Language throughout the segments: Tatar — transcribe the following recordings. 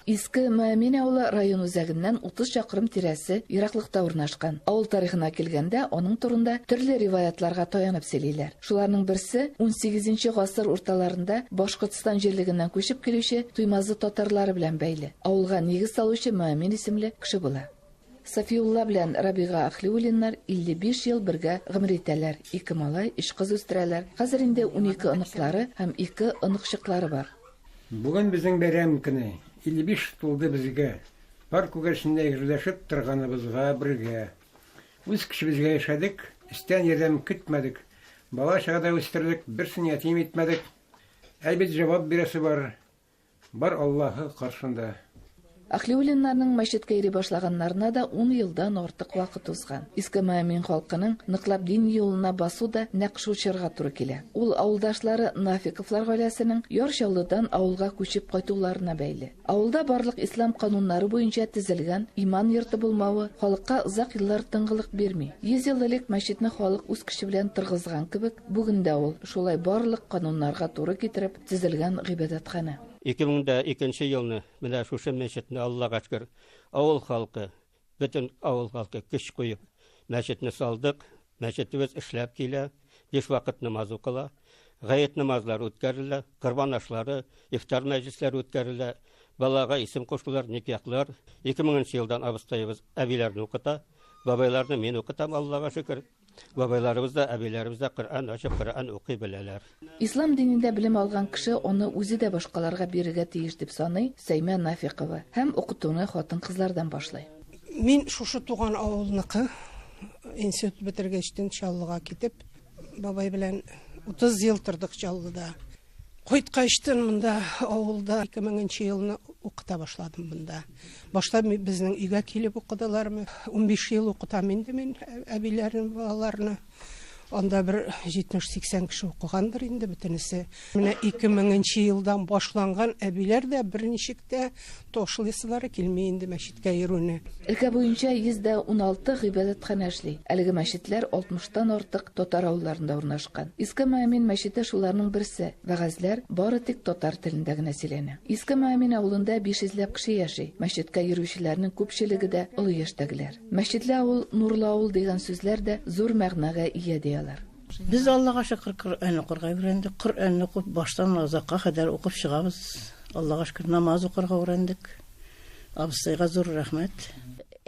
Иске Мәэмин авылы район үзәгеннән 30 чакрым тирәсе ераклыкта урнашкан. Авыл тарихына килгәндә, аның турында төрле риваятларга таянып сөйлиләр. Шуларның берсе 18 гасыр урталарында Башкортстан җирлегеннән күчеп килүче Туймазы татарлары белән бәйле. Авылга нигез салучы Мәэмин исемле кеше була. Сафиулла белән Рабига Ахлиуллиннар 55 ел бергә гомер итәләр. Ике малай, өч кыз үстерәләр. Хәзер инде унике оныклары һәм ике оныкчыклары бар. Бүген безнең бәйрәм көне. 55 тулды безгә. Пар күгәрчененә гөрләшеп торганыбызга бергә. Үз көчебезгә яшәдек, өстән ярдәм көтмәдек. Бала-чага да үстердек, берсен ятим итмәдек. Әлбит, җавап бирәсе бар. Бар Аллаһы каршында. Әхлиуллиннарның мәчеткә йөри башлаганнарына да ун елдан артык вакыт узган. Иске Маэмин халкының ныклап дин юлына басу да нәкъ шул чорга туры килә. Ул авылдашлары Нафиковлар гаиләсенең Яр Чаллыдан авылга күчеп кайтуларына бәйле. Авылда барлык ислам кануннары буенча төзелгән иман йорты булмавы халыкка озак еллар тынгылык бирми. Йөз ел элек мәчетне халык үз көче белән тыргызган кебек, бүген дә ул шулай барлык кануннарга туры китереп, төзелгән гыйбадәтханә. 2002 елны менә шушы мәчетне Аллага шкер, авыл халкы, бөтен авыл халкы көч куеп, мәчетне салдык, мәчетебез эшләп килә, биш вакыт намаз укыла, гает намазлары үткәрелә, корбан ашлары, ифтар мәҗлесләре үткәрелә, балага исем кушулар, никяхлар. 2000 нче елдан абыстаебыз әбиләрне укыта, бабайларны мин укытам, Аллага шөкер. Бабайларыбыз да, әбиләребез дә Коръән ачып, Коръән укый беләләр. Ислам динендә белем алган кеше аны үзе дә башкаларга бирергә тиеш, дип саный Сәймә Нафикова һәм укытуны хатын-кызлардан башлый. Мин шушы туган авылныкы. Институт бетергәчтен Чаллыга китеп, бабай белән 30 ел тордык Чаллыда. Кайткачтын монда авылда 2000 нче елны укыта башладым монда. Башта безнең өйгә килеп укыдылар. 15 ел укытам инде мин әбиләрнең балаларны. Анда бер 70-80 кеше укыгандыр инде бөтенесе. Менә 2000 нче елдан башланган әбиләр дә берничек тә Ташлыйсылары килми инде мәчеткә йөрүне. Өлкә буенча 116 гыйбадәтханә эшли. Әлеге мәчетләр 60 тан артык татар авылларында урнашкан. Иске Мөәмин мәчете шуларның берсе. Вәгазьләр бары тик татар телендә генә сөйләнә. Иске Мөәмин авылында 500 ләп кеше яши. Мәчеткә йөрүчеләрнең күпчелеге дә олы яшьтәгеләр. Мәчетле авыл, нурлы авыл дигән сүзләр дә зур мәгънәгә ия, ди алар. Без Аллага шөкер Коръән укырга өйрәндек. Коръәнне укып баштан азакка кадәр укып чыгабыз. Аллага шөкер намаз укырга урәндек. Абыстайга зур рәхмәт.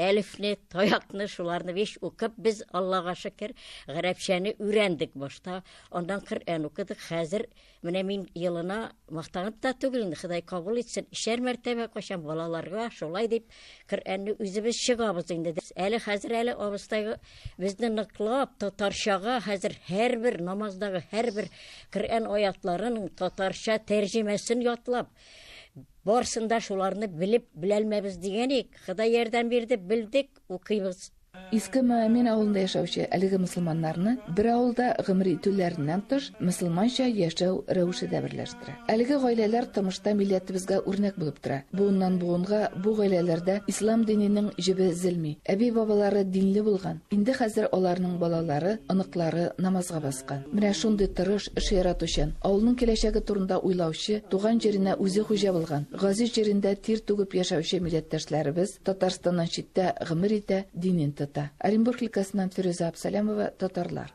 Әлифне, таякны, шуларны биш укып без Аллага шөкер гарәпчәне өйрәндек башта. Аннан Коръән укыдык. Хәзер Менә мин елына мактанып та түгел, инде Ходай кабул итсен, өчәр мәртәбә качам балаларга шулай дип Коръәнне үзебез чыгабыз инде. Әле хәзер әле абыстайга безне ныклап татарчага хәзер һәрбер намаздагы һәрбер Коръән аятларын татарча тәрҗемәсен ятлап барсын да шуларны белеп беләлмәбез дигән ик. Ходай ярдәм бирде, белдек, укыйбыз. Иске Мөәмин авылында яшәүче әлеге мөселманнарны бер авылда гомер итүләреннән тыш, мөселманча яшәү рәвеше дә берләштерә. Әлеге гаиләләр тормышта милләтебезгә үрнәк булып тора. Буыннан буынга бу гаиләләрдә ислам диненең җебе өзелми. Әби-бабалары динле булган. Инде хәзер аларның балалары, оныклары намазга баскан. Менә шундый тырыш, эш яратучан, авылның киләчәге турында уйлаучы, туган җиренә үзе хуҗа булган, газиз җирендә тир түгеп яшәүче милләттәшләребез, Татарстаннан читтә гомер итә, динен тота. Оренбург өлкәсеннән Фирүзә Абсалямова, татарлар.